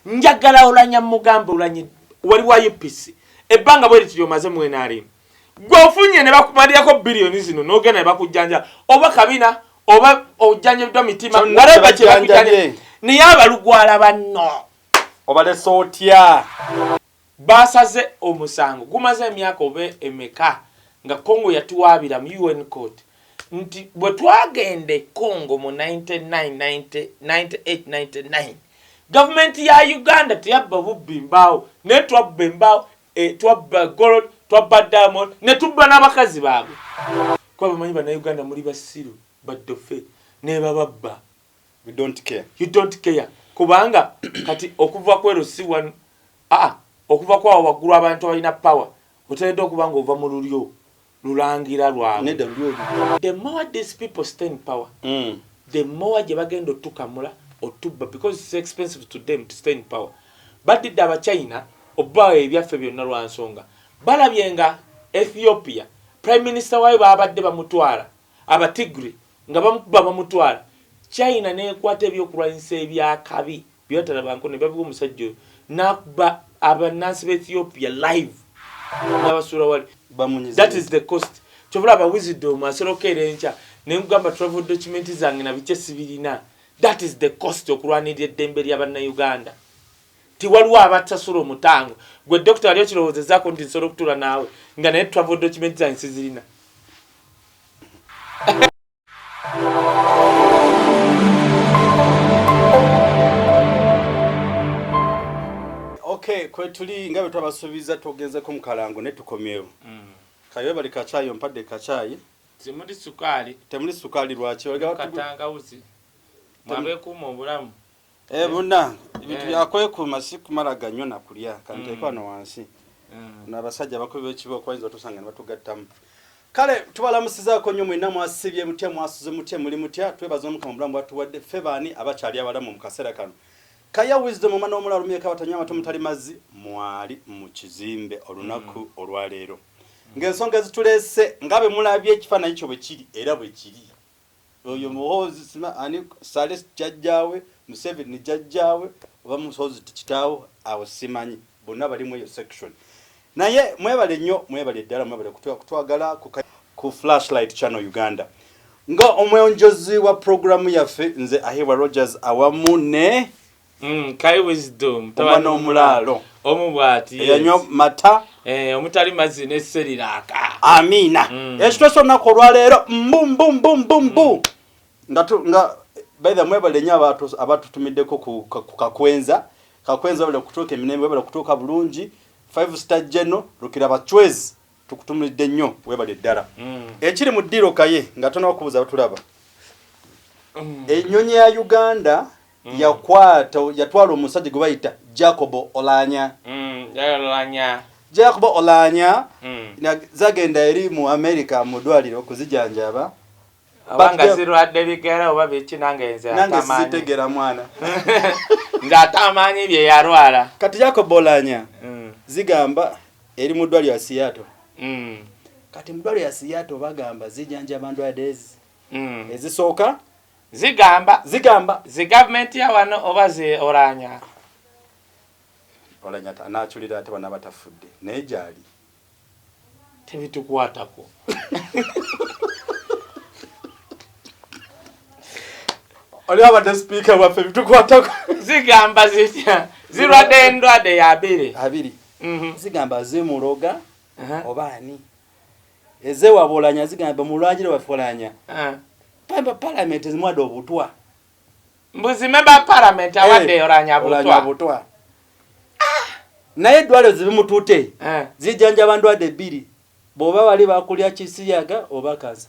njagala olanya mugambe olanye wali wa upc ebbanga bwe lityo maze mwena ali gwofunye ne bakumalirako billion zino nogenda ne bakujjanja oba kabina oba ojjanje bidwa mitima walaba kye bakujjanje ne yaba lugwala banno oba le sotya Baasaze omusango gumaze emyaka oba emeka nga Congo yatuwaabira mu UN Court nti bwe twagenda e Congo mu 1998-99 Gavumenti ya Uganda teyabba bubbi mbaawo naye twabba embaawo, twabba Gold, twabba Diamond ne tubba n'abakazi baabwe kuba bamanyi Bannayuganda muli basiru, baddofe nebababba. you don't care you don't care kubanga kati okuva kwero si one a ah, okuva kwa waguru abantu abalina power oteredde okuba nga ova mu lulyo lulangira lwabwe the more these people stay in power mm. the more gye bagenda otukamula otubba because it's expensive to them to stay in power badidde abachina obawa ebyaffe byonna lwa nsonga balabye nga ethiopia prime minister wayo babadde bamutwala abatigri Nga bamukuba bamutwala, China n'ekwata ebyokulwanyisa eby'akabi bye batalabanko ne babiwa omusajja oyo n'akuba abannansi ba Ethiopia live n'abasuula wali. That is the cost. Kyova olaba Wisdom asobola okukeera enkya ne nkugamba travel document zange na bikye sibirina. That is the cost okulwanirira eddembe lya Bannayuganda. Nti waliwo abasasula omutango. Ggwe Dokita wali okirowoozezaako nti nsobola okutuula naawe nga naye travel document zange sizirina? Okay, kwetuli nga bwetwabasuubiza twogenzeko mu kalango ne tukomyewo mm. kayo bali kacaayi ompadde kacaayi temuli sukaali temuli sukaali lwaki katangawuzi mwabekuuma obulamu Eh munange ebintu byakwekuuma si kumala ganyo na kulya kanteeke mm. wano wansi mm. no abasajja abakubi b'ekibooko bayinza otusanga ne batugattamu kale tubalamusizaako nnyo mwenna mwasibye mutya mwasuze mutya muli mutya twebaza omukama obulamu bwatuwadde ffe baani abakyali abalamu mu kaseera kano kaya wisdom omwana w'omula alumyeko abatanywa amata omutali mazzi mwali mu kizimbe olunaku mm. olwaleero ng'ensonga ezituleese nga bwe mulabye ekifaananyi kyo bwe kiri era bwe kiri Oyo muhoozi sima ani sale jajjaawe museveni ni jajjaawe oba muhoozi kitaawo awo simanyi bonna balimu eyo section naye mwebale nnyo mwebale ddala mwebale kutwagala ku, ku flashlight channel uganda nga omwonjozi wa programu yaffe nze ahebwa rogers awamu ne Mm, kai wisdom omwana omulaalo omu bwati eyanywa mata eh, omutali mazzi neseriraaka amiina mm. ekitosa olunaku olwaleero mbumbumbumbu mm. nga nga baithe mwebale nyo abatutumiddeko ku kakwenza kakwenza webale kutuuka emirembe webale kutuuka bulungi five star geno lukira bacwezi tukutumulidde nnyo webale ddala mm. ekiri mu ddiiro kaye nga tonakubuza batulaba enyonyi ya uganda mm. yakwata yatwala omusajja gwe bayita jacobo olanya mm, jacobo olanya mm. zagenda eri mu america mu ddwaliro okuzijanjaba abanga zirwadde bigera oba biki nange nze nange sizitegera mwana nze ate amaanyi bye yalwala kati jacobo olanya mm. zigamba eri mu ddwaliro ya siyato mm. kati mu ddwaliro ya siyato bagamba zijanjaba ndwadezi mm. ezisooka Zigamba. Zigamba. Zi government ya wano oba zi Olanya. Olanya ta anachulira ate bana batafudde naye gyali. Tebitukwatako. Oli abadde speaker waffe bitukwatako. Zigamba zitya. Zirwadde endwadde ya abiri. Abiri. Mhm. Zigamba zimuloga. Uh -huh. Oba ani. eze wabolanya zigamba bamulwanyire wafolanya ah. pamba parliament ezimwade obutwa mbuzi member parliament eh, awade hey, olanya butwa, butwa. Ah. naye eddwaliro zibimutute eh. zijanja bandwade bbiri bwoba wali bakulya kisiyaga oba kansa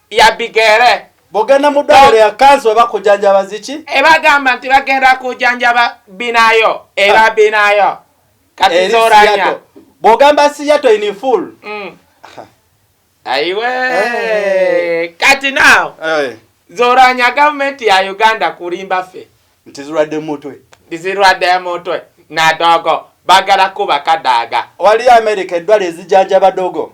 ya bigere bogenda mu ddwaliro ya kansi oba kujanjaba ziki ebagamba nti bagenda kujanjaba binayo era ah. binayo kati zoranya bwogamba siyato in full mm. aiwe hey. Eh. kati now hey. Eh. zoranya gavumenti ya uganda kulimba ffe nti zirwadde mutwe zirwadde mutwe nadogo bagala kuba kadaga waliyo amerika eddwala ezijanjaba dogo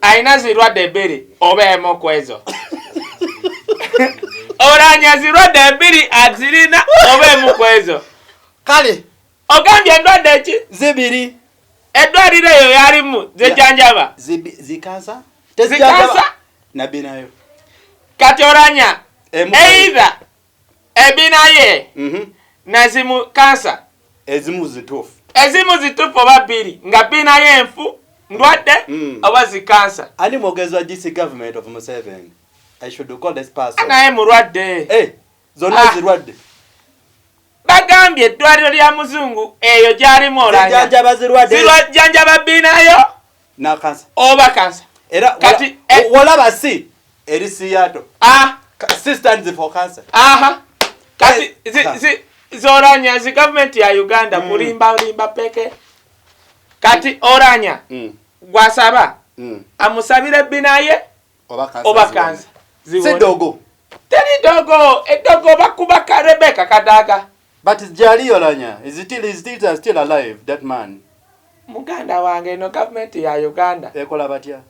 Alina zirwadde bbiri oba emu ku ezo. Olanya zirwadde bbiri azirina oba emu ku ezo. Kale. Ogambye endwadde ki? Zibiri. Eddwaliro eyo yalimu zejanjaba? Zikansa. Zikansa? Nabbi nayo. Kati olanya. Either. ebina ye mhm. nazimu kansa ezimu zitufu ezimu zitufu oba biri nga bina ye enfu ndwadde mm. oba zikansa ani mwogezi wa gc government of museven i should call this person naye mulwadde eh, zonna ah. zirwadde bagambye eddwaliro lya muzungu eyo gyalimu olanjanja bazirwadde zirwa janja babinayo nakansa oba kansa era kati eh, wolaba si eri siyato ah si stands for cancer aha kati eh, zi, zi, zoranya zi government ya uganda mm. kulimba limba peke kati oranya mm. gwasaba mm. amusabire binaye oba kansa si dogo teri dogo edogo bakuba rebeka kadaga But Jali Olanya is still is still is still alive that man. Muganda wange eno government ya Uganda. Ekola batya?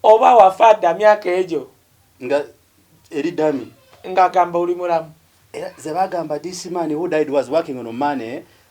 Oba wafa da myaka ejo. Nga eri dami. Nga gamba uli mulamu. Era zebagamba this man who died was working on money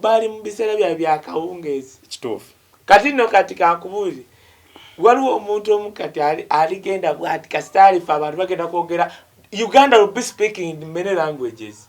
bali mu biseera byabwe byakawungeezi kituufu kati no kati kankubuuze waliwo omuntu omu kati aligenda bwati kasita alifa abantu bagenda kwogera uganda will be speaking in many languages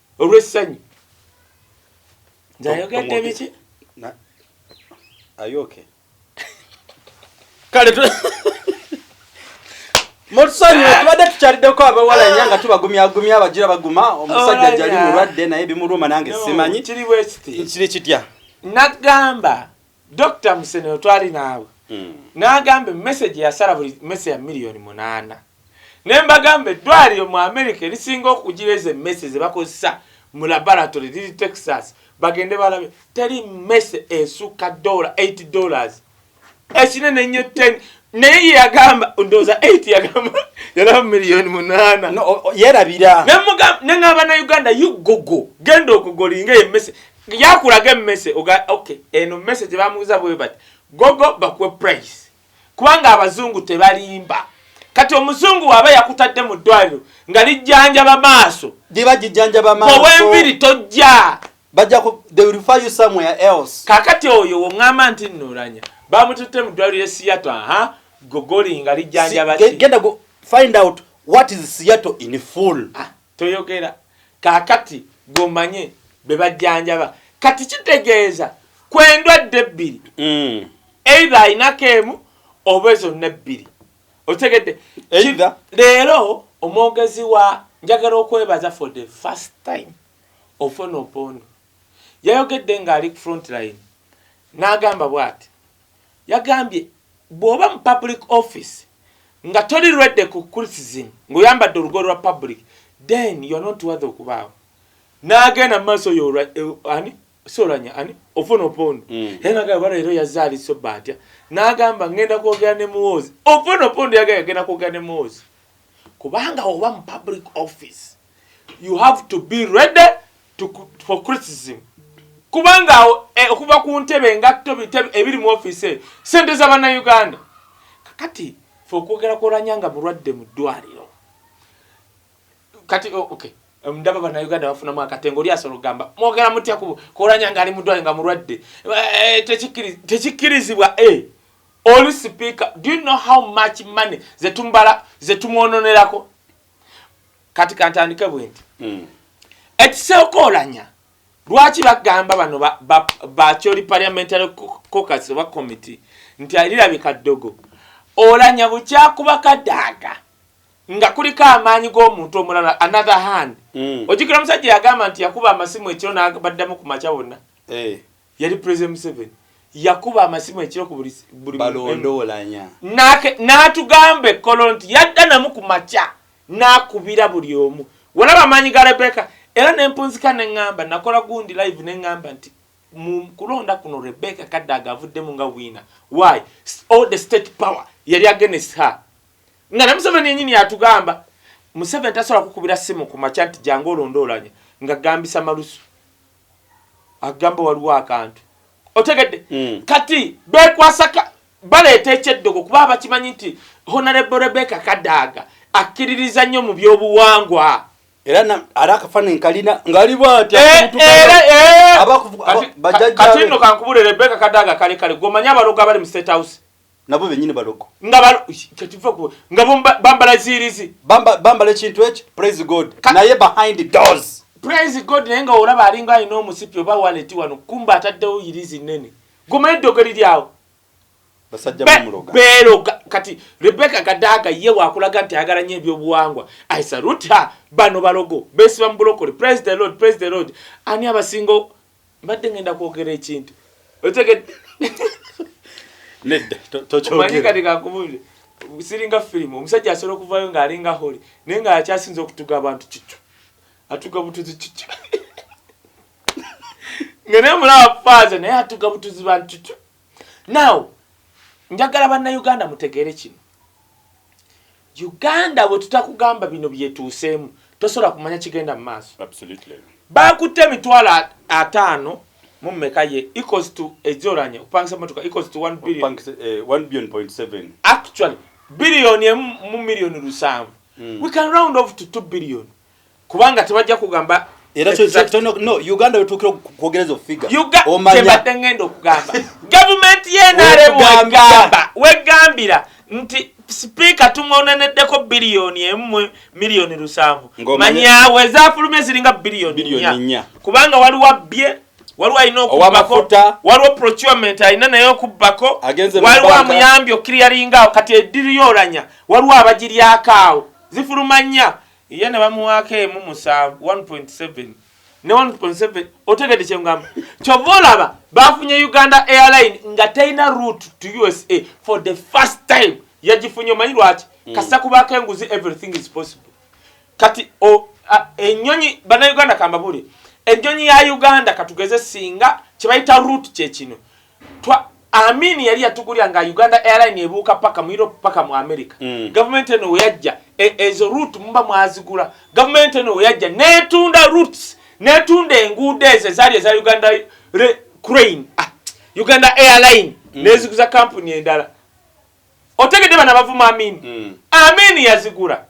olw'essanyu nze ayogedde biki ayoke kale mutusonyiwe eh. tubadde tukyaliddeko abawala nya nga tubagumyagumya abagira baguma omusajja oh, jali mulwadde naye bimuluma nange simanyi kiri kitya nagamba Dokita Musenero twali naawe mm. n'agamba emmesegi yasala buli mmese ya miliyoni munaana ne mbagamba eddwaliro mu Amerika erisinga okugira ezo emmese ze bakozesa mu laboratory liri Texas bagende balabe teri mmese esukka dola 8 dollars ekinene nnyo 10 naye yeyagamba ndowooza 8 yagamba yalaba miliyoni munaana yerabira ne ng'abana uganda yugogo genda okugolinga emmese yakulaga emmese oga ok eno mmese tebamuuza bwe bati gogo bakuwe price kubanga abazungu tebalimba kati omuzungu waaba yakutadde mu ddwaliro nga lijjanjaba maaso liba gijjanjaba maaso owenviri tojja bajja ku they will refer you somewhere else kakati oyo wongamba nti nuranya bamututte mu ddwaliro e siyato aha gogoli nga lijjanjaba genda find out what is siyato in full ah. Toyogera kakati gwe omanye bebajjanjaba kati kitegeeza ku endwadde ebbiri mm. eitha ayinako emu oba ezonna ebbiri otegedde leero omwogezi wa njagala okwebaza for the first time ofonopondo yayogedde ng'ali ku front line n'agamba bwati Yagambye, Bw'oba mu public office nga toli ready ku criticism ng'oyambadde olugoye lwa public then you're not worthy okubaawo. N'agenda mu maaso, Oyo Olwa, eh, ani? Si Olwanya, ani? Ovono Opondo. Era nagamba oba leero yazze ali sober atya. N'agamba, Ngenda kwogera ne Muhoozi. Ovono Opondo yagambye agenda kwogera ne Muhoozi. Kubanga oba mu public office, you have to be ready for criticism kubanga awo eh, okuva ku ntebe engatto ebiri mu ofiisi eyo sente za bannayuganda kakati fe okwogera kwolanya nga mulwadde mu ddwaliro kati oh, okay ndaba bannayuganda bafunamu akatengo oli asobola okugamba mwogera mutya kwolanya nga ali mu ddwaliro nga mulwadde eh, tekikkirizibwa e eh, oli sipiika do you know how much money zetumbala zetumwononerako kati kantandike bwenti mm. ekiseokolanya lwaki bagamba bano bakyoli ba, ba parliamentary cocus oba committee nti alirabika ddogo olanya bukyakuba kadaaga nga kuliko amaanyi g'omuntu omulala another hand mm. ojukira omusajja yagamba nti yakuba amasimu ekiro nabaddamu ku makya wonna hey. Eh. Yali President Museveni yakuba amasimu ekiro ku buli buli balondowolanya n'atugamba ekkolo nti yadda namu ku makya n'akubira buli omu walaba amaanyi ga Rebecca era ne mpunzika ne ŋŋamba nakola gundi live ne ŋŋamba nti mu kulonda kuno Rebecca Kadaga avuddemu nga wiina why all the state power yali against her nga ne Museveni yennyini yatugamba Museveni tasobola kukubira simu ku makya nti jangu olondoolanye nga gambisa malusu agamba waliwo akantu otegedde mm. kati bekwasaka baleeta ekyeddogo kuba abakimanyi nti honarebo rebeka kadaaga akkiririza nnyo mu byobuwangwa era ari akafaananyi kalina ngali bwatyabajajakatino eh, eh, eh, kankubule rebeka kadaaga kale kale gomanya abalogo abali mu state house nabo benyini balogo nga balo kyekiva ku nga bambala zirizi bamba bambala ekintu ekyo praise god naye behind the doors praise god naye nga olaba alinga alina omusipi oba wallet wano kumba ataddewo yirizi nene guma eddogeri lyawo basajja bamuloga bero kati rebecca kadaga ye wakulaga nti ayagala nnyo ebyobuwangwa i salute her bano balogo besiba mu bulokole praise the lord praise the lord ani abasingo Mbadde ngenda kwogera ekintu. Otegedde? Nedda, tokyogera. Omanyi kati kakubuulire. Siringa firimu, omusajja asobola okuvaayo ng'alinga holi naye ng'akyasinza okutuga abantu kikyo. Atuga butuzi kikyo. Nga naye mulaba faaza naye atuga butuzi bantu kikyo. Now, njagala banna Uganda mutegeere kino. Uganda bwetutakugamba bino byetuuseemu tosobola kumanya kigenda mu maaso. Bakutte emitwalo ataano mu mmeka ye equals to ejoranye okupangisa motoka equals to 1 billion. Eh, 1 billion point 7. Actually, billion emu mu million lusanvu. Mm. We can round off to 2 billion. kubanga tebajja kugamba era no uganda wetuukira okwogereza ofiga omanyakyebadde ngenda okugamba gavumenti yenaremwegamba wegambira nti sipiika tumwoneneddeko biliyoni emu miliyoni lusanvu manyawe zafuluma eziringa biliyoni nya kubanga waliwo abbye waliwo alina okubbako waliwo procurement alina naye okubbako waliwo amuyambye okukiriyaringaawo kati ediriyoranya waliwo abagiryakaawo zifuluma nya ye ne bamuwaako emu musanvu 1.7 ne 1.7 otegedde kyengamba kyova olaba bafunye uganda airline nga terina root to usa for the first time yagifunye omanyi lwaki mm. kasita kubaako enguzi everything is possible kati enyonyi banauganda kambabuli enyonyi ya uganda katugeze singa kyebayita root kyekino Twa Amin yali yatugulira nga Uganda Airline ebuuka paka mu Europe paka mu America. Mm. Government eno weyajja e, ezo route mumba mwazigula. Government eno weyajja netunda routes netunda enguudo ezo ezaali eza Uganda re, crane ah, Uganda Airline mm. neziguza kampuni endala. Otegedde bana bavuma Amin. Mm. Amin yazigula.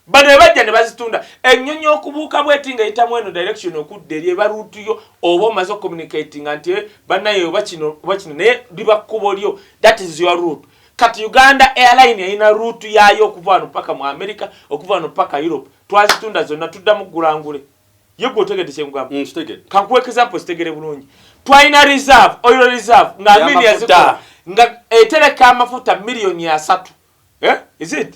bano ebajja ne bazitunda ennyonyi okubuuka bweti nga eyitamu eno direction okudda eri eba ruutu yo oba omaze ocommunicatinga nti eh, banaye oba kino oba kino naye liba kkubo lyo that is your root kati uganda airline erina ruutu yaayo okuva wano paka mu america okuva wano paka europe twazitunda zonna tuddamu ggulangule ye gwe otegedde kyengugamba mm, kankuwa example zitegere bulungi twalina reserve oil reserve nga amini yazikola nga etereka amafuta miliyoni asatu eh? is it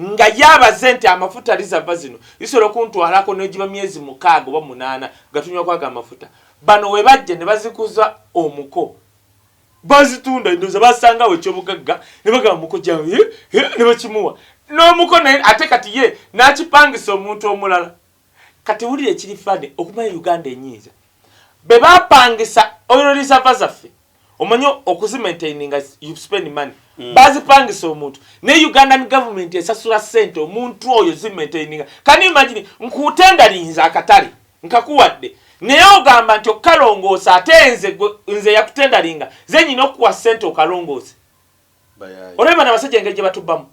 Nga ye abaze nti amafuta rizava zino zisobola okuntwalako n'egiba myezi mukaaga oba munaana nga tunywa ku ago amafuta. Bano we bajja ne bazikuza omuko. Bazitunda endowooza basangawo ekyobugagga ne bagamba muko gyange ne bakimuwa. N'omuko naye ate kati ye n'akipangisa omuntu omulala. Kati wulira ekiri funny okumanya Uganda enyiiza. Bebapangisa oil reserve zaffe omanyi okuzimaintaininga you spend money. Mm. Bazipangisa omuntu. Ne Ugandan government esasula sente omuntu oyo zimaintaininga. Can you imagine nkutenda linza akatale nkakuwadde naye ogamba nti okalongoosa ate nze nze yakutendalinga ze nyina okuwa sente okalongoose. olabye bano abasajja engeri gyebatubbamu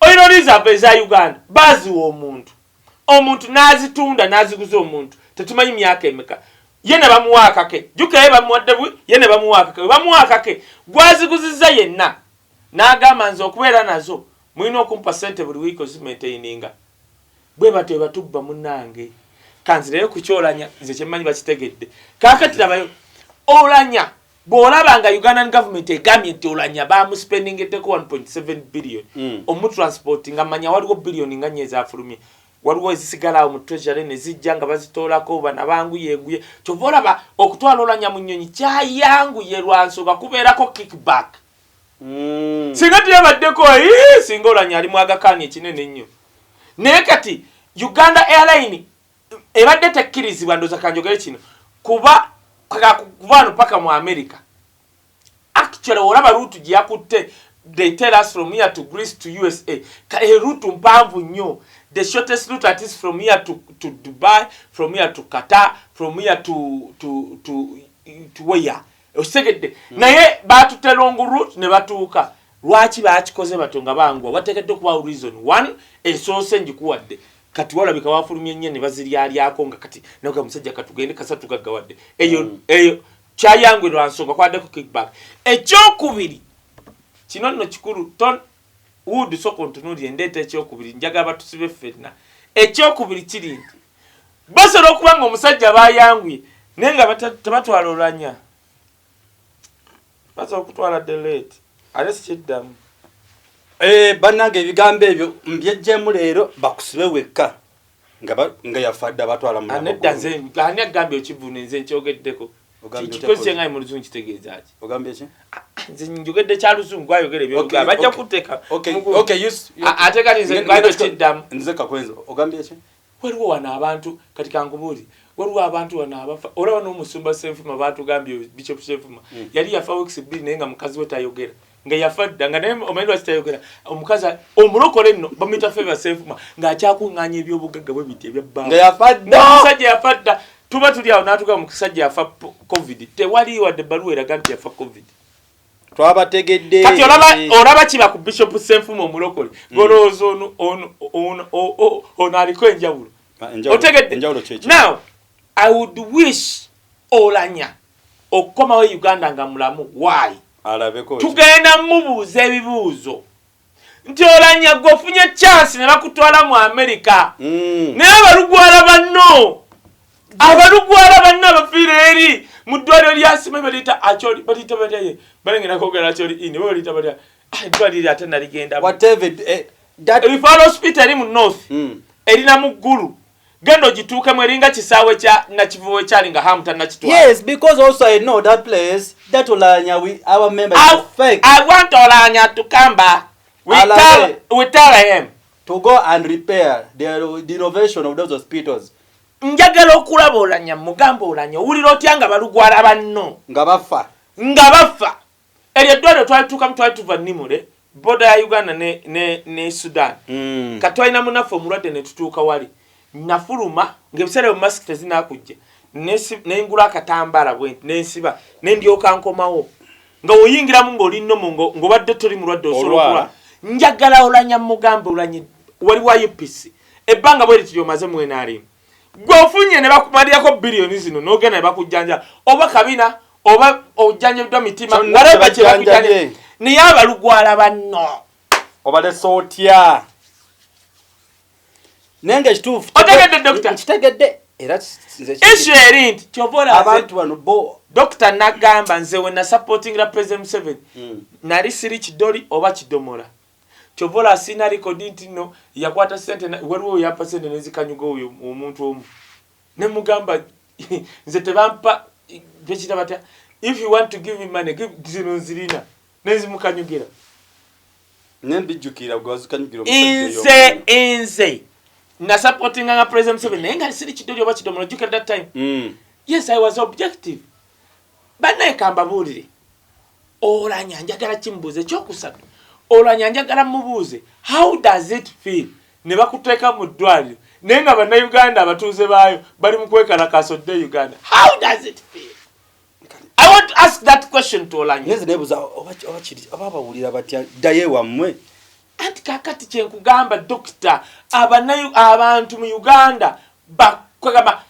oil reserve eza uganda baziwa omuntu omuntu nazitunda naziguza omuntu tetumanyi myaka emeka ye ne bamuwa akake jukaye bamuwadde bwi ye ne bamuwa akake webamuwa akake gwaziguziza yenna n'agamba nze okubeera nazo mulina okumpa sente buli wiiki ozimaintaininga bwe batyo webatubba munange kanzireyo kukyolanya nze kyemmanyi bakitegedde kakati labayo olanya bwolaba nga ugandan government egambye nti olanya bamuspendingeddeko 1.7 billion mm. omutransport nga manya waliwo billion nga nyo ezafulumye waliwo ezisigalaawo mu treasury nezijja nga bazitoolako bana banguyenguye kyova olaba okutwala olanya mu nyonyi kyayanguye lwansonga kubeerako kickback mm. singa teyabaddeko singa olanya ali mwagakaani ekinene ennyo naye kati uganda airline ebadde tekkirizibwa ndoza kanjogere kino kuba kakakuvano paka mu america actually olaba rutu gyeyakutte they tell us from here to greece to usa kae rutu mpanvu nnyo the shortest route at is from here to, to dubai from here to qatar from here to, to, to, to where osegedde mm. naye batutte long route ne batuuka lwaki bakikoze batyo nga bangwa watekedde okubawo reason one esoose ngikuwadde kati walabika wafulumye nya ne baziryalyako nga kati naga musajja katugende kasa tugaggawadde eyo mm. eyo kyayangwe lwa nsonga kwaddeko kickback ekyokubiri kino nno kikulu ton wood soka ontunuulire ndeeta ekyokubiri njaga abatusibe ffenna ekyokubiri kiri nti basobola okuba nga omusajja bayanguye naye nga tebatwala olwanya baza okutwala delete ate sikiddamu eh, bannange ebigambo ebyo mbyejjemu leero bakusibe wekka nga yafadde abatwala munedda nze ani agambye okivuna nze nkyogeddeko kikozese nga muluzungu kitegeeza ki ogambye ki ah, ah, nze njogedde kya luzungu ayogera ebyogera bajja kuteeka ate kati nze nze kakwenza ogambye ki Waliwo wano abantu kati kankubuuze waliwo abantu wano abafa olaba n'omusumba Ssenfuma baatugambye Bishop Ssenfuma mm. yali yafa weeks bbiri naye nga mukazi we tayogera nga yafa dda nga naye omanyi lwaki tayogera omukazi omulokole nno bamuyita Favour Ssenfuma ng'akyakuŋŋaanya ebyobugagga bwe biti ebya bbanga yafa dda omusajja yafa dda tuba tuli awo n'atugamba omusajja yafa covid tewali wadde ebbaluwa eraga nti yafa covid twabategedde kati olaba olaba kiba ku bishop senfuma omulokole mm. golowooza ono ono ono ono aliko enjawulo ah, otegedde now i would wish olanya okukomawo e uganda nga mulamu why alabeko tugenda mubuuza ebibuuzo nti olanya gwe ofunye chance ne bakutwala mu amerika mm. naye abalugwala banno abalugwala banno abafiira eri mu ddwaliro lyasima baliyita acyoli baliyita balyaye balengera kogera acyoli ini ba baliyita balya ah, eddwaliro ate naligenda eh, rifal hospital eri mu north mm. erina mu ggulu genda ogituukemu eringa kisaawe kya nakivubo ekyali nga hamu tannakitwaiwant olaanya tukamba njagala okulaba olanya mugamba olanya owulira otya nga balugwala banno nga bafa nga bafa eryo eddwaliro twalituukamu twali tuva nimule boda ya uganda ne, ne, ne sudan mm. kati twalina munaffe omulwadde ne tutuuka wali nafuluma ngaebiseera ebyo masiki tezinakujja nengula akatambaala bwe nensiba nendyoka nkomawo nga oyingiramu ngaoli nomo ngaobadde toli mulwadde osobola njagala olanya mugambe olanye wali wa upc ebbanga bweri tiri omaze mu nrm gwe ofunye ne bakumalirako biliyoni zino n'ogenda ne bakujjanja oba kabina oba ojjanjabiddwa mitima walaba kye bakujjanja naye abalugwala banno obalese otya naye nga ekituufu otegedde dokita kitegedde esu eri nti kyovaobantu bano bo dokita nagamba nze we nasupportingira president museveni mm. nali siri kidoli oba kidomola Kyova olaba sirina record nti nno yakwata sente na waliwo weyampa sente nezikanyuga oyo omuntu omu nemugamba nze tebampa bekita batya if you want to give me money give zino nzirina nenzimukanyugira nembijjukira gwazikanyugira nze enze nasupportinga nga president museveni naye nga siri kidoli oba kidomola ojjukira that time mm. yes i was objective banaye kambabuulire Olanya njagala kimubuuza ekyokusatu olanya njagala mubuuze how does it feel ne bakuteeka mu ddwaliro naye nga bannayuganda abatuuze baayo bali mu kwekalakaasa odde e uganda how does it feel i want to ask that question to olanyanze nebuuza oba bawulira batya ddayo ewammwe anti kakati kyenkugamba dokita abantu mu uganda bakwegamba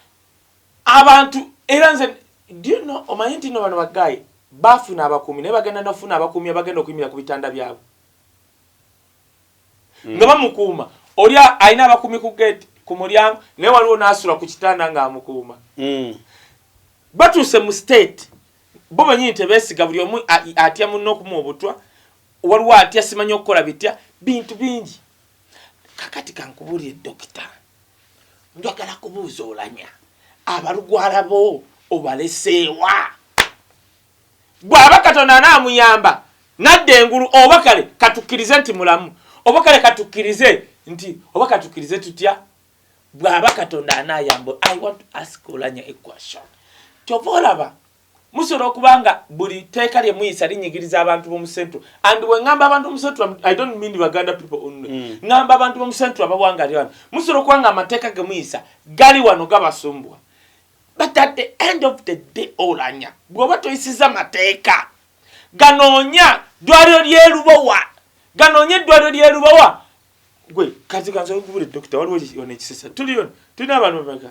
Abantu era nze do you know omanyi nti no bano ba guy bafuna abakuumi naye bagenda nafuna abakuumi abagenda okuyimira ku bitanda byabwe mm. nga bamukuuma oli alina abakuumi ku gate ku mulyango naye waliwo nasula ku kitanda nga amukuuma mm. batuuse mu state bo banyini tebesiga buli omu atya munno okuma obutwa waliwo atya simanyi okukola bitya bintu bingi kakati kankubulire dokita njagala kubuuza olanya abalugwala bo obaleseewa bw'aba katonda anaamuyamba nadda engulu oba kale katukkirize nti mulamu oba kale katukkirize nti oba katukkirize tutya bw'aba katonda anaayamba i want to ask olanya equation kyova olaba Musobola okuba nga buli teeka lye muyisa linyigiriza abantu bomu central and we ngamba abantu bomu central I don't mean Baganda people only mm. ngamba abantu bomu central abawanga lyo musobola okuba nga amateeka ge muyisa gali wano gabasumbwa but at the end of the day olanya bwoba toyisiza mateeka ganoonya ddwaliro lyelubowa ganoonya eddwaliro lyelubowa gwe kazikansakubule dokita waliwo ono ekisesa tuliyo tulina abantu bameka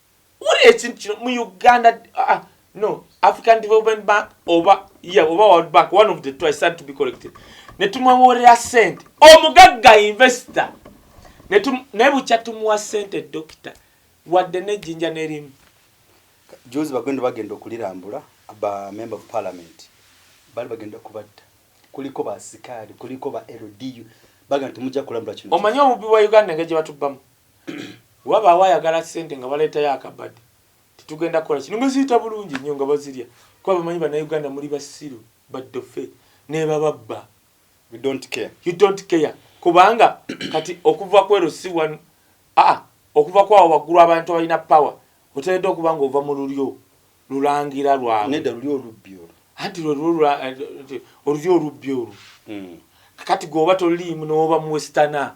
wulira ekintu kino mu uganda uh, no african development bank oba yeah, oba world bank one of the two i start to be collected netumwewoolera sente omugagga investor naye bukya tumuwa sente dokita wadde nejjinja nerimu jozi bagenda bagenda okulirambula ba member of parliament bali bagenda kubatta kuliko basikaali kuliko ba ldu bagenda temujja kulambula kino omanyi obubi bwa uganda nga gye batubbamu Wabaawo ayagala ssente nga baleetayo akabadi nti tugenda kukola kino nga ziyita bulungi nnyo nga bazirya kuba bamanyi Bannayuganda muli basiru, baddofe nebababba. You don't care. You don't care. Kubanga kati okuva kwero si one aa ah, okuva kwawo waggulu abantu abalina power oteredde okuba nga ova mu lulyo lulangira lwabwe. Nedda lulyo olubbi olwo. Anti lwe lulyo eh, olubbi olwo. Hmm. Kati gwoba toliimu n'oba mu westana.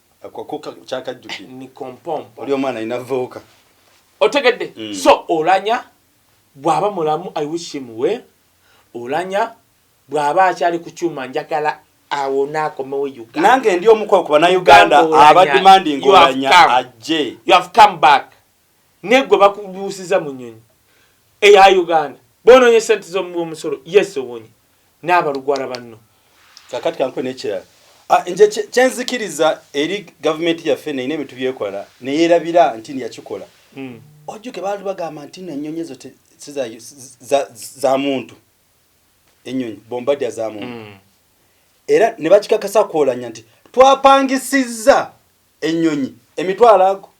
akokoka kyakajjuki ni kompompo oli omwana ina voka otegedde mm. so olanya bwaba mulamu i wish him well olanya bwaba akyali ku kyuma njagala awona akomewo uganda nange ndi omuko kuba na uganda abadimandinga olanya ajje you have come back ne gwe bakubuusiza mu nyonyi eya uganda bononye sente zomumusolo yes obonye nabalugwala banno kakati kankwe nekirala ah, nje kyenzikiriza eri gavumenti yaffe neyina ebintu byekola neyerabira nti yakikola hmm. ojjuke baali bagamba nti no enyonyi ezo za muntu enyonyi bombadya za muntu hmm. era nebakikakasa kwolanya nti twapangisizza enyonyi emitwalo ago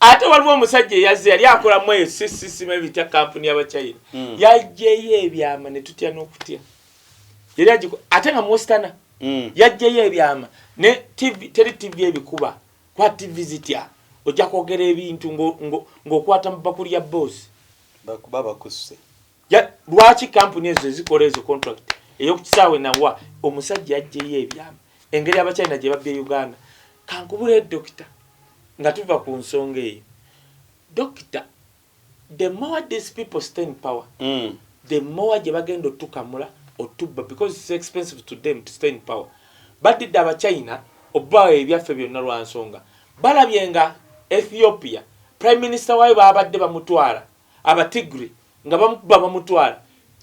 ate waliwo omusajja eyazze yali akola mu eyo sisisima ebitya kampuni y'abachina hmm. yajjeyo ebyama ne tutya n'okutya yali agiko ate nga muwesitana hmm. yajjeyo ebyama ne tivi teri tivi ebikuba kwa tivi zitya ojja kwogera ebintu ng'okwata mu bakuli ya boosi bakuba bakusse lwaki kampuni ezo ezikola ezo contract eyokukisaawe nawa omusajja yajjeyo ebyama engeri abachina gye babye uganda kankubula edokita nga tuva ku nsonga eyo dokita the more these people stay in power mm. the more gye bagenda otukamula otubba because it's expensive to them to stay in power badidde abachina obawo ebyaffe byonna lwa nsonga balabye nga ethiopia prime minister wayo babadde bamutwala abatigri Nga bamukuba bamutwala,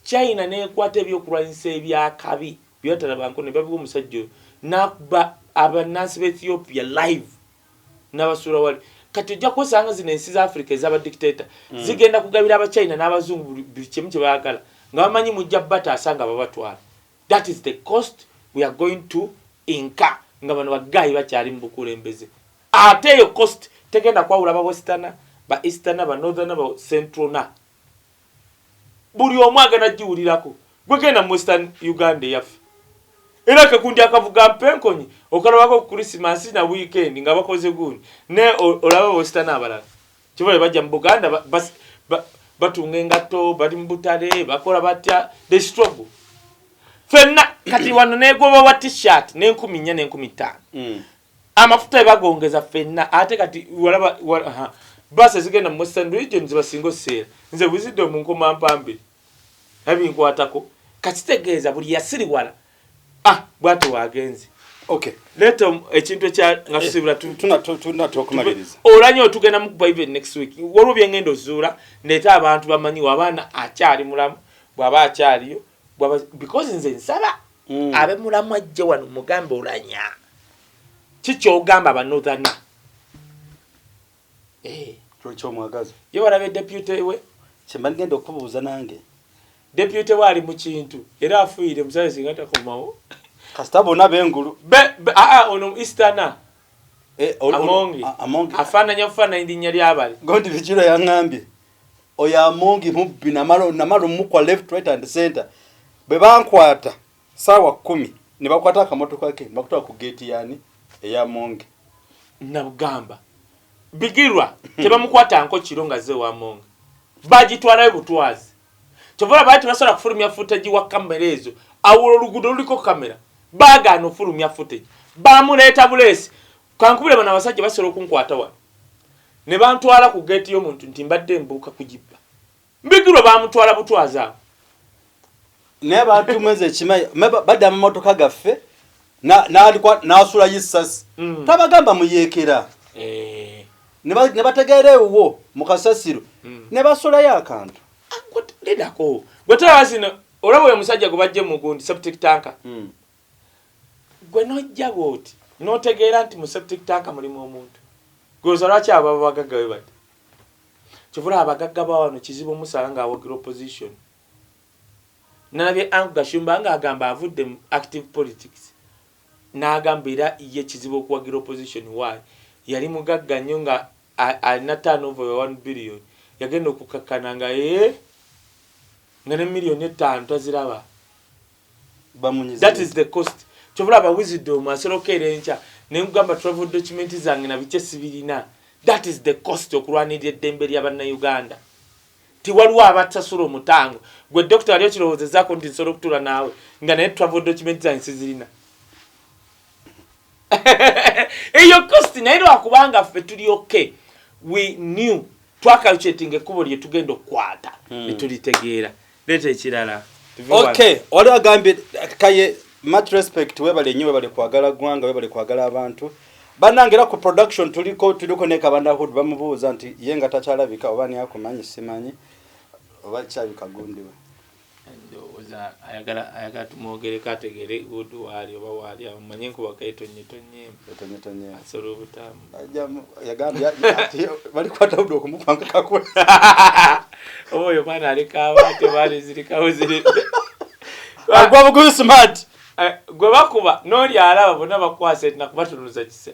China n'ekwata ebyokulwanyisa eby'akabi bye batalabanko ne babiwa omusajja oyo n'akuba abannansi ba Ethiopia live n'abasuula wali. Kati ojja kwesanga nga zino ensi za Africa eza ba dictator hmm. zigenda kugabira Abachina n'Abazungu buli kimu kye baagala nga bamanyi mujja bataasa nga babatwala. That is the cost we are going to incur nga bano baggayi bakyali mu bukulembeze. Ate eyo coast tegenda kwawula ba westerner, ba easterner, ba northerner, ba centralner. Buli omu agenda giwulirako. Gwe genda mu western Uganda eyaffe. Era akagundi akavuga mpenkonyi okalabako ku Christmas na weekend nga bakoze gundi. Ne olaba ba westerner abalala. Kibale bajja mu Buganda ba, ba, ba, batunga engatto, bali mu butale, bakola batya, they struggle. Fenna kati wano negoba wa t-shirt n'enkumi nnya n'enkumi ttaano. Mm. amafuta ebagongeza fenna ate kati walaba wala, bus ezigenda mu western region zibasinga oseera nze wizidde omunkoma mpambe ebinkwatako kakitegeeza buli yasiriwala ah bwati wagenze okay leta um, ekintu ekya nga tusibula eh, tuna tuna tokumaliriza olanye otugenda mu bible next week waliwo byengenda ozuula ndeeta abantu bamanyiwo abaana akyali mulamu bwaba akyaliyo bwaba because nze nsaba mm. abe mulamu ajje wano mugambe olanya kikyogamba banothana eh. kyokyomwagaza ye walabe deputy we kyemba ligenda okubuuza nange deputy we ali mu kintu era afuire musaze singa takomawo kasita bona bengulu be, be, aa, ah, ah, ono eastana eh, amongi afananya ofananya linnya lyabali gondi bikiro yangambye oyo amongi mubbi namala omukwa left right and center bwe bankwata saawa kumi ne bakwata akamotoka ke bakutwala ku geeti yaani eya mongi nabugamba bigirwa hmm. tebamukwata nko kiro nga ze wa mongi bagitwalayo butwazi kyova olaba nti basobola kufulumya futegi wa kamera ezo awula oluguudo luliko kamera bagaana ofulumya futegi bamuleeta buleesi Kankubule bano abasajja basobola okunkwata wano ne bantwala ku geeti y'omuntu nti mbadde mbuuka kugibba. Mbigirwa baamutwala butwazi awo. Naye abantu mwezi ekimanyi badda amamotoka gaffe n'asulayo essasi hmm. tabagamba muyeekera eh. ne bategeera ewuwo mu kasasiro hmm. ne basulayo akantu. Ah, Lidako gwe tolaba zino olaba oyo omusajja gwe bajje mu gundi septic tanka. Hmm. Ggwe n'ojja bw'oti n'otegeera nti mu septic tank mulimu omuntu. Ggwe olowooza lwaki abo baba bagagga bwe bati? Kyova olaba abagagga ba wano kizibu omusanga ng'awagira opposition. Nnalabye Ank Gashumba ng'agamba avudde mu active politics n'agamba era ye kizibu okuwagira opposition. Why? Yali mugagga nnyo nga alina turnover ya one billion yagenda okukakkana nga eeh nga ne million ettaano taziraba. bamunyiza that is the cost kyobola aba wisdom asolo kera encha nengamba travel document zange na biche sibirina that is the cost okulwanirira eddembe lya banna Uganda ti waliwo abatasula omutango gwe doctor ali okirowooza zako nti nsolo kutula naawe nga naye travel document zange sizirina eyo kosti naye lwakubanga ffe tuli oke we new twakalucetinga ekkubo lye tugenda okukwata hmm. netulitegeera leeta ekirala oke wali agambye kaye much respect webale nnyo webale kwagala ggwanga webale kwagala abantu banange era ku production tuliko tuliko ne kabanda hood bamubuuza nti ye nga takyalabika oba niyakumanyi simanyi oba kyabikagundiwe Ndowooza ayagala ayagala tumwogereko ategeere Hood waali oba waali awo manye nkuba ketonyetonyeemu ketonyetonye asola obutaamu yagambye ati balikwata Hood okumupanga kakwe oba oyo mwana aleka abaate baali zirikawo ziri agwa buguzi smart eh, gwe bakuba n'oli alaba bonna bakwasa etina kubatunuza kise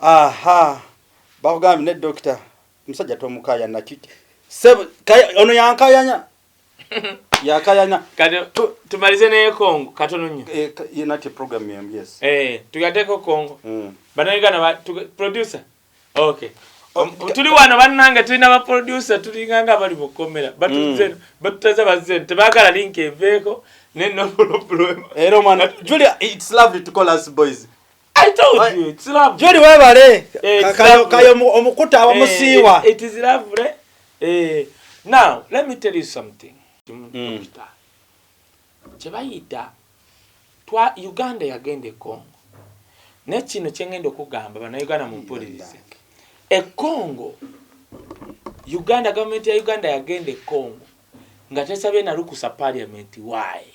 Ahaa bakugambye ne doctor musajja tomukaya naki sebo kaya ono yankayanya yakayanya kati tumalize ne Kongo katono nyo eh ye nati program yem yes eh tugateko Kongo mm. bana yigana ba tu, producer okay um, oh, tuli wano bananga tuli na ba producer tuli nganga bali mukomera but mm. zen but taza bazen tebakala link eveko ne no problem era mwana Julia it's lovely to call us boys juli webale eh, kayo omukuta abamusiiwa eh, eh, now let me tell you something mm. kyebayita twa uganda yagenda ekongo naye kino kyengenda okugamba banauganda mumpulirize ekongo uganda gavumenti ya uganda yagenda ekongo nga tesabye nalukusa parliament waye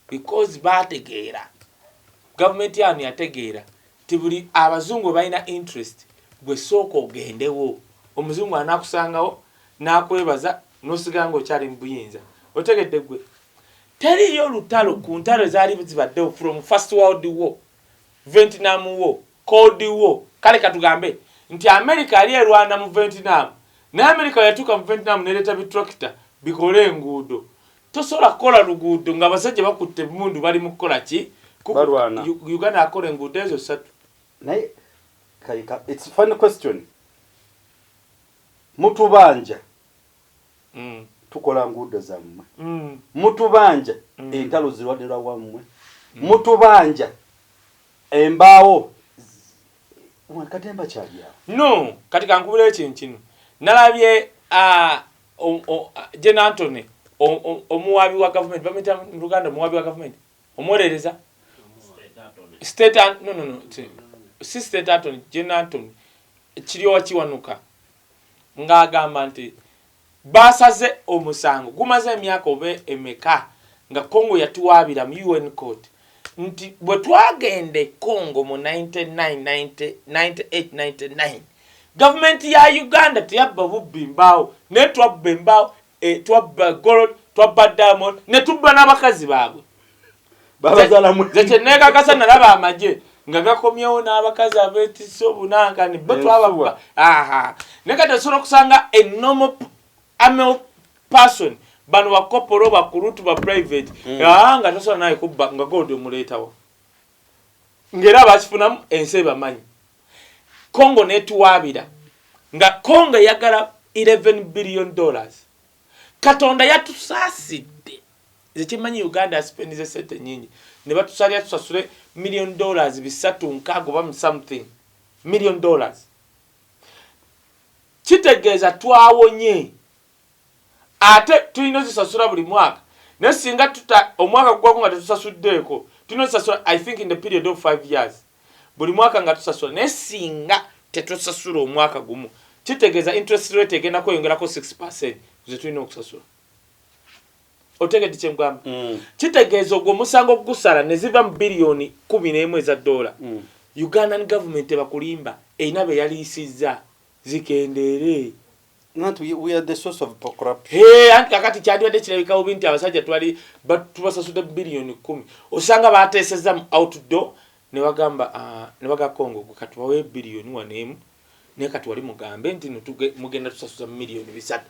because bategeera government yanu yategeera ti buli abazungu webalina interest gwe sooka ogendewo omuzungu anakusangawo nakwebaza nosigala nga okyali mubuyinza otegedde gwe teriyo lutalo ku ntalo ezaali zibaddewo from first world war ventnam war cold war kale katugambe nti america yali erwana mu ventnam naye america weyatuuka mu ventnam nereeta bitracta bikole enguudo Tosobola kukola luguudo nga abasajja bakutte emmundu bali mu kukola ki? Balwana. Uganda akola enguudo ezo ssatu. Naye kayika it's funny question. Mutubanja. Mm. Tukola nguudo zammwe. Mm. Mutubanja. Mm. Entalo zirwadde lwa wammwe. Mm. Mutubanja. Embaawo. Katemba kyalya. No, kati kankubira ekintu kino. Nalabye a uh, Gen Antony omuwaabi wa gavumenti bamuyita mu luganda omuwaabi wa gavumenti omuwolereza si state antony gen antony kiryowa kiwanuka ng'agamba nti baasaze omusango gumaze emyaka oba emeka nga congo yatuwaabira mu un court nti bwe twagenda e Congo mu 1998-99 gavumenti ya Uganda teyabba bubbi mbaawo naye twabba embaawo, eh, twabba gold, twabba diamond ne tubba n'abakazi baabwe. Nze kye neekakasa nalaba amagye nga gakomyewo n'abakazi abeetisse obunankani bo twababba. Aha. Naye kati osobola okusanga enomo Amel person bano bakopolo bakulutu ba private mm. ah, nga tosobola naye kubba nga gold omuleetawo ngaera bakifunamu ensi ebamanyi congo netuwaabira nga congo eyagala 11 billion dollars katonda yatusaasidde nze kimanyi uganda asipendize sente nyingi ne batusalira tusasule million dollars bisatu nkaago bamu something million dollars Kitegeeza twawonye ate tulina ozisasula buli mwaka naye singa tuta omwaka gugwako nga tetusasuddeeko tulina ozisasula I think in the period of five years buli mwaka nga tusasula naye singa tetusasula omwaka gumu kitegeeza interest rate egenda kweyongerako six percent ku ze tulina okusasula. Otegedde kye nkugamba? Mm. Kitegeeza ogwo omusango gusala ne ziva mu biliyoni kkumi n'emu eza ddoola mm. Ugandan government tebakulimba erina be yaliisizza. zikendeere. Nanti we are the source of corruption. Hey, anti kakati kyandibadde kirabika bubi nti abasajja twali tubasasude biliyoni kumi osanga bateesezza mu outdoor ne bagamba ah, ne baga Congo gwe kati bawe biliyoni wano emu naye kati wali mugambe nti mugenda tusasuza miliyoni bisatu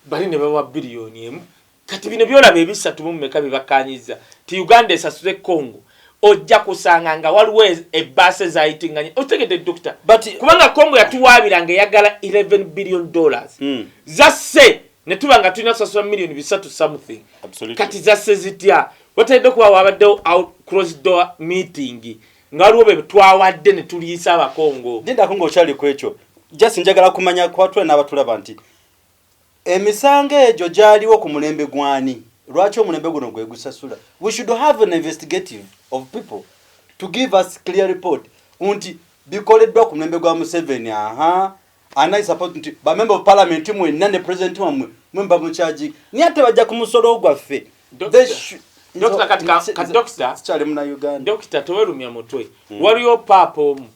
bali ne bawa biliyoni emu Kati bino byolaba ebisatu mu meka bibakanyizza ti Uganda esasuze Congo ojja kusanga nga waliwo ebbaasa ezayitinganye otegedde dokita kubanga congo yatuwaabira nga eyagala 11 billion dollars mm. zasse ne tuba nga tulina kusasula millioni bisatu something kati zasse zitya watalidde okuba wabaddewo out cross door meeting nga waliwo be twawadde ne tuliyisa abakongo ndindako ngaokyali ku ekyo just njagala kumanya kubatula n'abatulaba nti Emisango egyo gyaliwo ku mulembe gwani? Lwaki omulembe guno gwegusasula? We should have an investigative of people to give us clear report nti bikoleddwa ku mulembe gwa Museveni ahaa and I support nti ba member of parliament mwenna ne president wamwe mwe mba mukyagi naye ate bajja ku musolo gwaffe dokita tewelumya mutwe hmm. waliyo paapa omu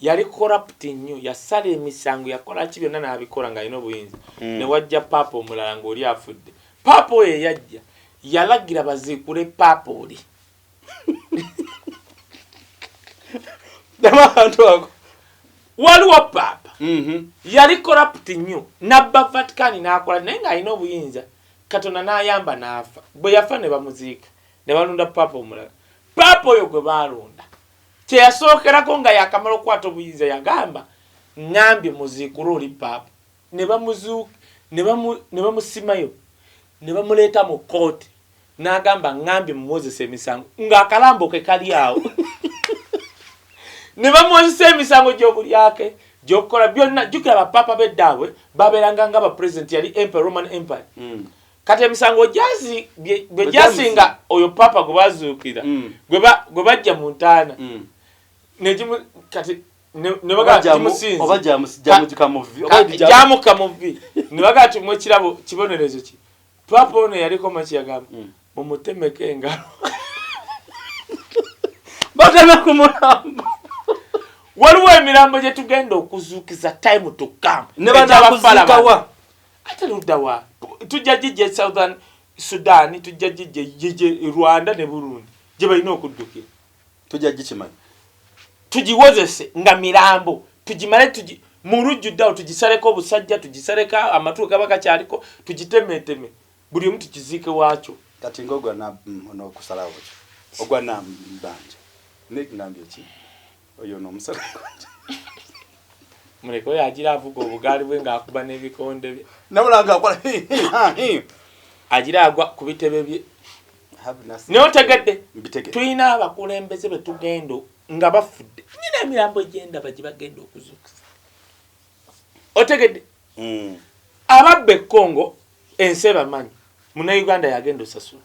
Yali corrupt nnyo, yasala emisango, yakola ki byonna n'abikola ng'alina obuyinza ne wajja Paapa omulala ng'oli afudde. Paapa oyo eyajja yalagira baziikule Paapa oli. Waliwo Paapa yali corrupt nnyo n'abba Vatican n'akola naye ng'alina obuyinza Katonda n'ayamba n'afa. Bwe yafa ne bamuziika ne balonda Paapa omulala. Paapa oyo gwe baalonda Kye yasookerako nga yaakamala okukwata obuyinza yagamba, Ŋŋambye muziikule oli Paapa. Ne bamuzi, ne bamu, ne bamusimayo, ne bamuleeta mu kkooti. N'agamba, Ŋŋambye mumuwozese emisango. Nga akalambo ke kali awo. Ne bamuwozesa emisango gy'obulyake, gy'okukola, byonna. Jjukira, Bapaapa b'eddaabwe baabeeranga nga Bapulezidenti, yali Emperor, Roman Empire. kati emisango gyazi gwe gyasinga oyo papa gwe bazuukira mm. gwe bajja mu ntaana mm. negimu kati nebagamukamuvi nebaga ti mwekirabo kibonerezo ki papa ono yaliko makiyagamba mm. mumutemeko engalo bateme ku mulambo waliwo emirambo gyetugenda okuzuukiza time to come nebanakuzuukawa ate ludda wa tujja gijja e southern sudan tujja gijja gije e rwanda ne burundi gye balina okuddukira tujja gikimanya tugiwozese nga mirambo tugimale tugi mu lujjudde awo tugisaleko obusajja tugisaleko amatu gaba gakyaliko tugitemeteme buli omu tukiziike waakyo kati ngaogwa mm, nokusalawo ogwa nambanja nekigambye ki Oyo no musala konje. Muleke oyo ajira avuga obugaali bwe nga akuba n'ebikonde bye. Nabula nga akola hi hi ha hi. Ajira agwa ku bitebe bye. Naye otegedde tulina abakulembeze be tugenda nga bafudde nyina emirambo egyendaba gye bagenda okuzuukusa otegedde hmm. ababba e Congo ensi ebamanyi munauganda yagenda osasula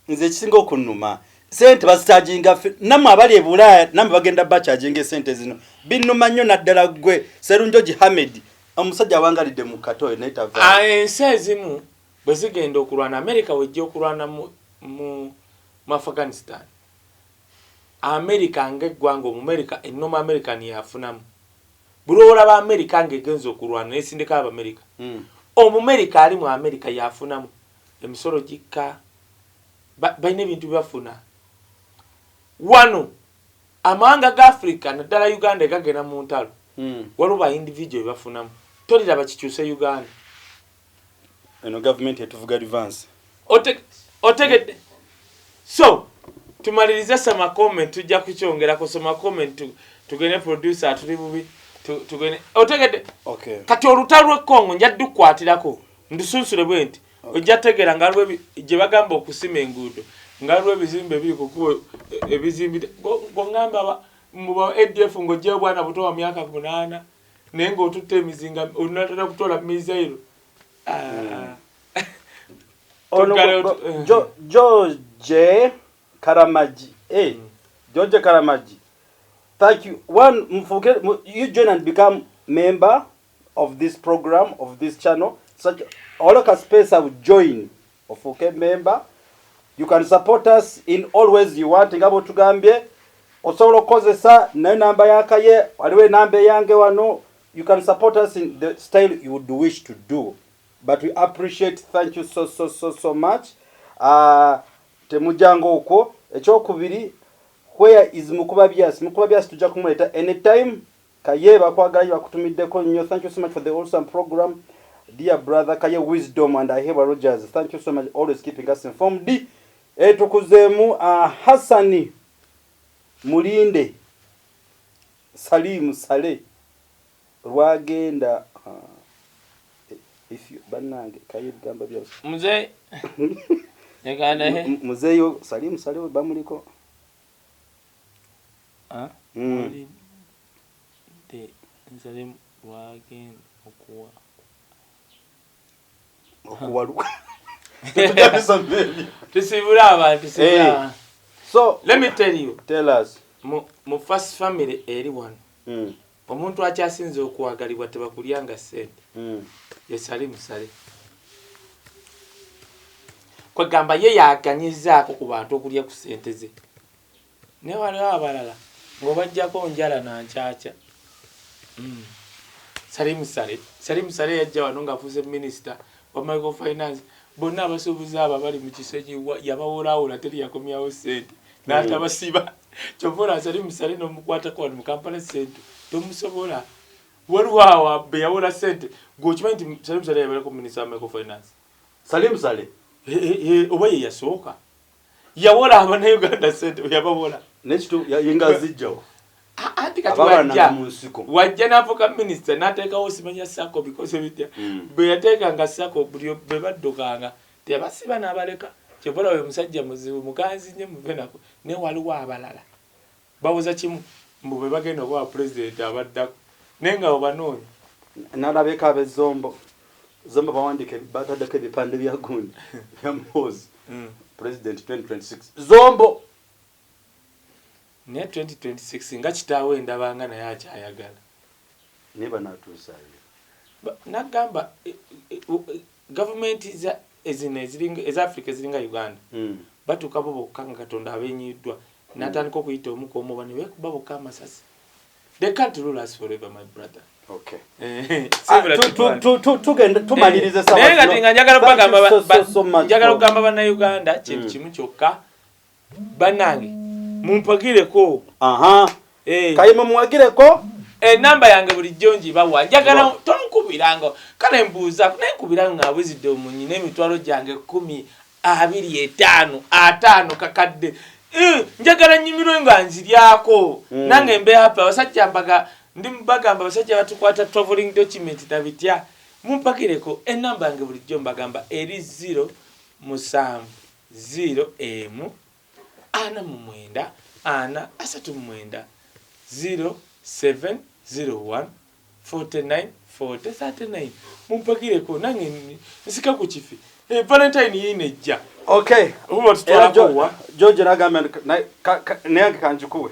nze ekisinga okunuma sente bazikyajinga namwe abali ebulaaya namwe bagenda bakyajinga esente zino binuma nnyo naddala gwe serunjoji hamed omusajja awangalidde mu katoyo naye tava ah, ensi ezimu bwe zigenda okulwana amerika wejja okulwana mu, mu, mu afghanistan amerika ngaeggwanga omumerika enoma american yafunamu buli olaba amerika ngaegenza okulwana nesindika abamerika mm. omumerika ali mu amerika yafunamu Emisolo gikka, ba, balina ebintu bye bafuna. Wano, amawanga ga Africa, naddala Uganda egagenda mu ntalo, mm. waliwo ba individual bye bafunamu. Toliraba kikyuse Uganda. Eno gavumenti etuvuga livansi. Ote, otegedde? So, tumalirize sama comment tujja kukyongera kusoma comment tu, tugende producer atuli bubi tu, tugende otegedde okay. kati olutalo lwe Congo nja dukwatirako Ndisunsule bwe nti ojja kutegeera nga waliwo gye bagamba okusima enguudo nga waliwo ebizimbe ebiri ku kkubo e, ebizimbide ng'oŋŋamba mu ba adf ng'oggyeyo obwana buto wa myaka munaana naye ng'otutte emizinga onatera kutoola misairo ah. george karamagi eh, hmm. george karamagi thank you one mfuke you join and become member of this program of this channel such all ka space of join of okay member you can support us in always you want ngabo tugambye osobola okukozesa naye namba yakaye waliwo enamba eyange wano you can support us in the style you would wish to do but we appreciate thank you so so so so much uh, temujanga okwo ekyokubiri where is mukuba byas mukuba byas tujja kumuleeta anytime Kaye bakwagala nyo bakutumiddeko nyo thank you so much for the awesome program dear brother Kaye wisdom and Ahebwa Rogers thank you so much always keeping us informed eh tukuzemu uh, ah, Hassan mulinde Salim Sale lwagenda uh, if you banange Kaye bigamba bya mzee Mzee yo Salim Sale bamuliko A wali de nzale lwagenda okuwa okuwaluka tusibule abantu eh. so let me tell you tell us mu, mu first family eri wano mm. omuntu akyasinze okwagalibwa tebakulyanga sente mm. yesali musale kwegamba ye yaganyizaako ku bantu okulya ku sente ze Naye waliwo abalala ng'obaggyako njala na nkyakya. Salim Saleh, Salim Saleh yajja wano ng'afuuse minisita wa Micro Finance, bonna abasuubuzi abo abali mu Kisenyi yabawolawola teri yakomyawo ssente n'atabasiba. Ky'ova olaba Salim Saleh n'omukwatako wano mu Kampala Central tomusobola. Waliwo awo be yawola ssente, gwe okimanyi nti Salim Saleh yabeerako minisita wa Micro Finance? Salim Saleh? Hee, hee, oba ye yasooka? yawola abanauganda sente yabawola yengazijjawo wajja nafuka minisita natekawo simanya sako bikoze bitya mm. bweyatekanga sako buli bwebaddukanga tebasiba nabaleka kyobola we musajja muzibu muganzi nyo muvenako ne waliwo abalala Babuza kimu mbu bwebagenda oba wa president abaddako naye nga obanoonya. Nalabeko abe zombo zombo bawandike batadeko ebipande bya gundi bya muhoozi president 2026 zombo. Naye 2026 nga kitaawe ndabanga naye akyayagala. Naye bano atuusa ye. Ba, nagamba e, e, e, Gavumenti zino eza Africa eziringa Uganda batuuka bo bokka nga Katonda abenyiiddwa natandika okuyita omu kwomu oba nebekuba bokka amasasi. They can't rule us forever my brother. Okay. Ah, Naye nga njagala okugamba bannayuganda kintu hmm. kimu kyokka Banange mumpagireko. Ahaa eh. Kaye mumuwagireko. Enamba yange bulijjo njibawa njagala tonkubiranga kale mbuuzako naye nkubira ng'abuzidde omunyi n'emitwalo gyange kkumi abiri etaano ataano kakadde eh, njagala nnyumirwe nga nziryako hmm. nange mbe happy abasajja mbaga ndi bagamba abasajja batukwata traveling document na bitya mumpakireko enamba yange bulijjo mbagamba eri zero musanvu ziro emu ana mu mwenda ana asatu mu mwenda ziro seven ziro one forty nine forty thirty nine mumpagireko nange nsika ku kifi eh, valentine yiino ejja okay era george nagambye naye kanjikuwe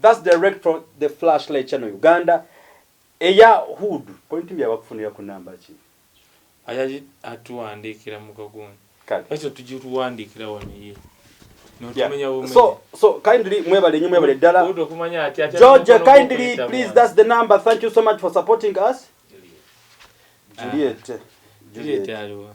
That's direct from the flashlight channel Uganda eya hood point mbi abakufunira ku namba ki ayaji atuwandiikira mu kagundi ekyo tugituwandiikira wano ye So, so kindly mwebale nyo mwebale ddala George kindly please that's the number thank you so much for supporting us Juliet ah. Juliet aliwa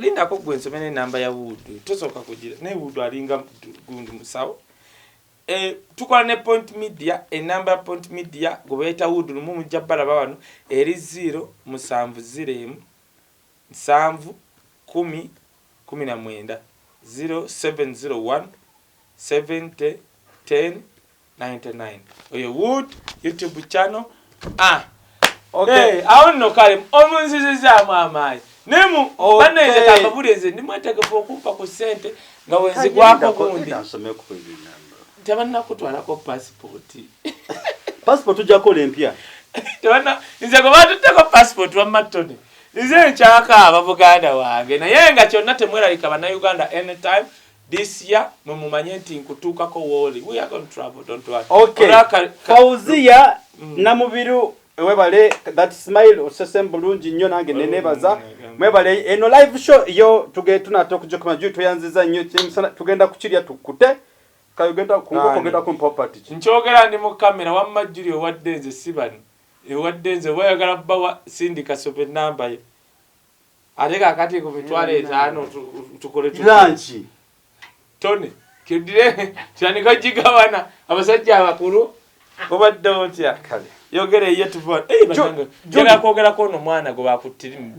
lindako gwe nsome nenamba ya wudu tosooka kugira naye wudu alinga gundi musawo eh, tukola ne point media enamba ya point media gwe bayita wudu lumu mujja balaba wano eri ziro musanvu ziro emu nsanvu kumi kumi na mwenda ziro 701 70 10 99 oyo wood youtube channel ah Okay. awo nno kale omunzizizaamu amaanyi naye mu banna nze kambabuli nze ndi mwetegefu okumpa ku ssente nga wenzigwako gundi tebannakutwalako pasipooti pasipooti ojjakola empya nze gwe batutteko pasipooti wamma tony nze nkyakaaba muganda wange naye nga kyonna temweralika bannayuganda anytime This year mwe mumanye nti nkutuukako wooli we are going to travel don't worry okay Olaka, Fauzia mm. Namubiru webale that smile osese bulungi nnyo nange nenebaza mm, mwebale eno live show yo tuge tunata okujokuma juu tuyanziza nnyo kimusana tugenda kukirya tukute kayogenda kungokogenda ku property ki nkyogera ndi mu camera wamma juli owadde nze sibani ewadde nze wayagala bawa sindika sobe namba ye Ate kakati ku mitwalo etaano tukole tulanki tone kyodire tandika gigabana abasajja abakulu obadde otya kale yogera eye tuva eh, genda kwogerako ono mwana gwe bakuttirimu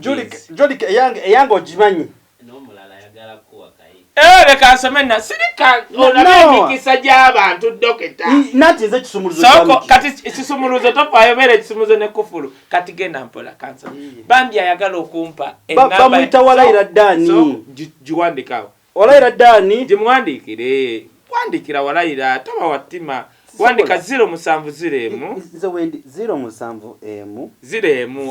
eyange ogimanyi n'omulala ayagala kuwaka Eh, leka nsome na sirika olaba emikisa gy'abantu dokita nati nze kisumuluzosoko kati kisumuluzo tofaayo beera ekisumuluzo ne kufulu kati genda mpola kansa bambi ayagala okumpa bamuyita walayira daani giwandikawo walayira daani gimuwandiikire wandikira walayira toba wattima wandika ziro musanvu ziro emu ziro musanvu emu ziro emu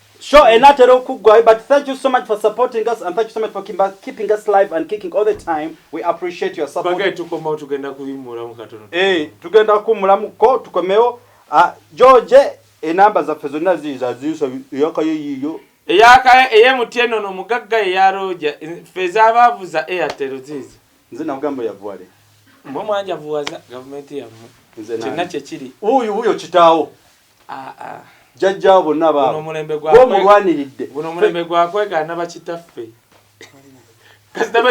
Show enatera okuggwayo but thank you so much for supporting us and thank you so much for keeping us live and kicking all the time we appreciate your support. Bagay tukomawo tugenda kuyimmulamu katono. Eh tugenda kummulamu ko tukomewo ah, George enamba zaffe zonna ziiza ziiso eyakayo yiiyo eyakayo eyemuti eno no mugagga eyaroja ffe ezabaavu za airtel ziizo nze nakugamba yavuwale mwe mwanjavuwaza gavumenti yammwe kyonna kyekiri wuyo wuyo kitaawo jjajjaawo bonna baabomulwaniridde buno omulembe gwakwegaana bakitaffe kasita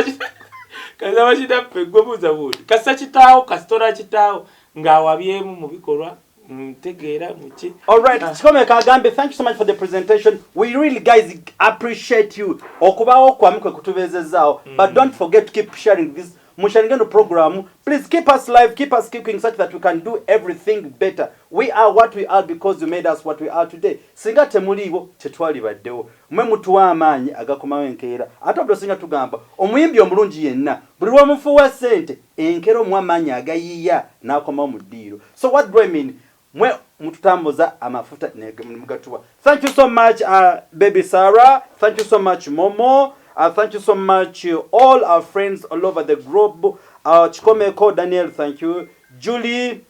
bakitaffe gwe buuza buuti kasita kitaawo kasitola kitaawo ng'awabyemu mu bikolwa ntegeera muki alright ah. kikomeka agambye thank you so much for the presentation we really guys appreciate you okubaawo kwamu kwe kutubeezezaawo mm. but don't forget to keep sharing this musharinge no program please keep us live keep us kicking such that we can do everything better we are what we are because you made us what we are today singa temuliiwo tetwalibaddewo mwe mutuwa amaanyi agakomawo enkeera ate obdo singa tugamba omuyimbi omulungi yenna buli lwomufuuwa sente enkera omuwa maanyi agayiiya n'akomawo mu ddiiro so what do I mean Mwe mututambuza amafuta nemugatuwa. Thank you so much uh, baby Sarah. Thank you so much Momo. Uh, thank you so much uh, all our friends all over the group. Uh, Chikomeko Daniel, thank you. Julie.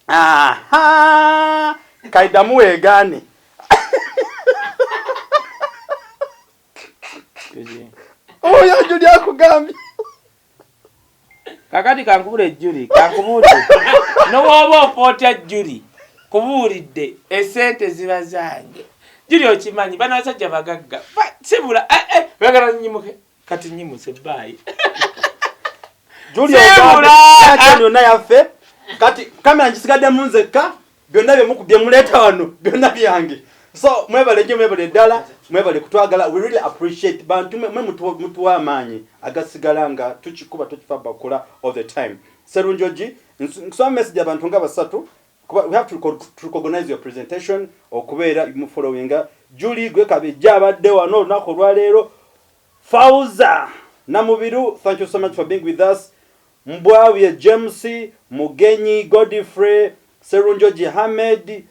Aha. Kaidamu egani. Oyo Julie akugambye. kakati kankubule juli kankubuulire nowooba ofa otya juli kubuulidde esente ziba zange juli okimanyi bano basajja bagagga sibula eh, eh, bagala nyimuke kati nyimuse baayi juli ogamba yonna yaffe kati kamera ngisigadde mu nzekka byonna bye muleeta wano byonna byange so mwebale nyo mwebale ddala mwebale kutwagala we really appreciate bantu mwe mutuwa amaanyi agasigala nga tukikuba tukifa bakola all the time serunjoji nsoma message abantu nga basatu kuba we have to recognize your presentation okubeera mu following juli gwe kabejja abadde wano olunaku olwaleero fauza namubiru thank you so much for being with us Mbwabye James, Mugenyi Godfrey, Sserunjogi Hamed,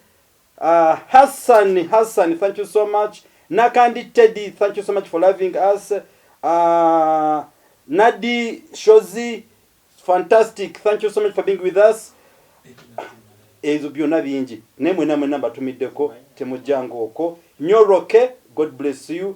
Hassan Hassan thank you so much, Nakandi Teddy thank you so much for loving us, Nadi Shozi fantastic thank you so much for being with us, ezo byona bingi naye mwena mwena mbatumiddeko temujjanga okwo nyo, Roke God bless you,